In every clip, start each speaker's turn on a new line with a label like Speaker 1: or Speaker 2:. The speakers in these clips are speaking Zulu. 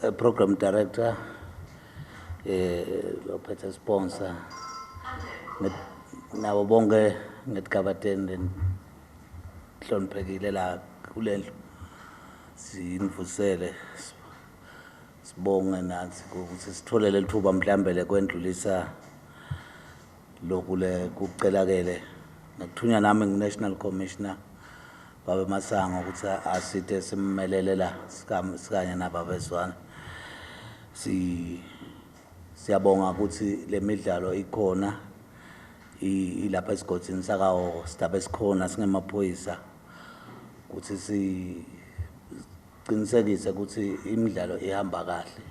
Speaker 1: uh, program director eh ophethe sponsor nabo bonke ngedigabadeni hloniphekile la kulendlu sinivusele sibonge nathi ukuthi sithole leli thuba mhlawumbe lekwendlulisa Lokhu le kucelakele nakuthunywa nami ngu-National Commissioner Babe Masango ukuthi asithe simmelele la sikanye nababezwana. Si siyabonga ukuthi le midlalo ikhona ilapha esigodini sakahoko sidaba esikhona singemaphoyisa ukuthi si Qinisekise ukuthi imidlalo ihamba kahle.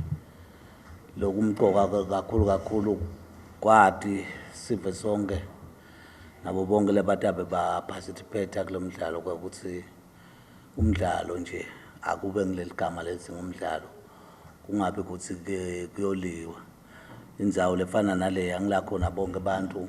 Speaker 1: Lokumqoka kakhulu kakhulu kwati sive sonke nabo bonke labatabe ba participate kulomdlalo ukuthi umdlalo nje akube ngileligama lethi ngumdlalo kungabe ukuthi kuyoliwa indzawo lefana nale angila khona bonke abantu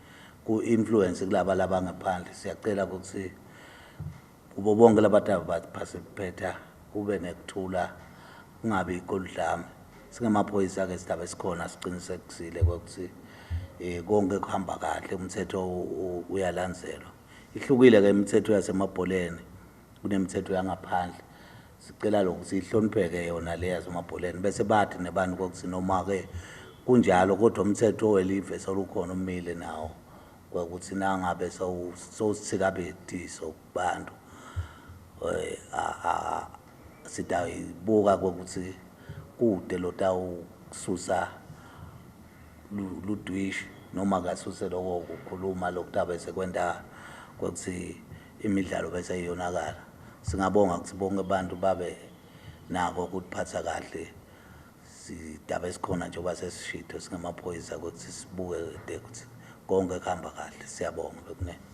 Speaker 1: ku influence kulaba labangaphandle siyacela ukuthi kubo bonke labataba baphasiphetha kube nekuthula kungabi ikoludlame singamaphoyisa ke sidaba esikhona siqinisekisile ukuthi eh konke kuhamba kahle umthetho uyalandzelwa ihlukile ke imithetho yasemabholeni kunemithetho yangaphandle Sicela lokhu sihlonipheke yona leya zomabholeni bese bathi nebantu kokuthi noma-ke kunjalo kodwa umthetho welive solukhona umile nawo kwakuthi nangabe sowusithikabetiso kubantu um sidayibuka kokuthi kude lotawususa ludwishi noma kasuse loko kukhuluma lokutabe sekwenta kokuthi imidlalo bese iyonakala. Singabonga ukuthi bonke abantu babe nako ukutiphatha kahle sidaba esikhona njengoba sesishitho singamaphoyisa ukuthi sibuke de ukuthi konke kuhamba kahle. Siyabonga bekunene.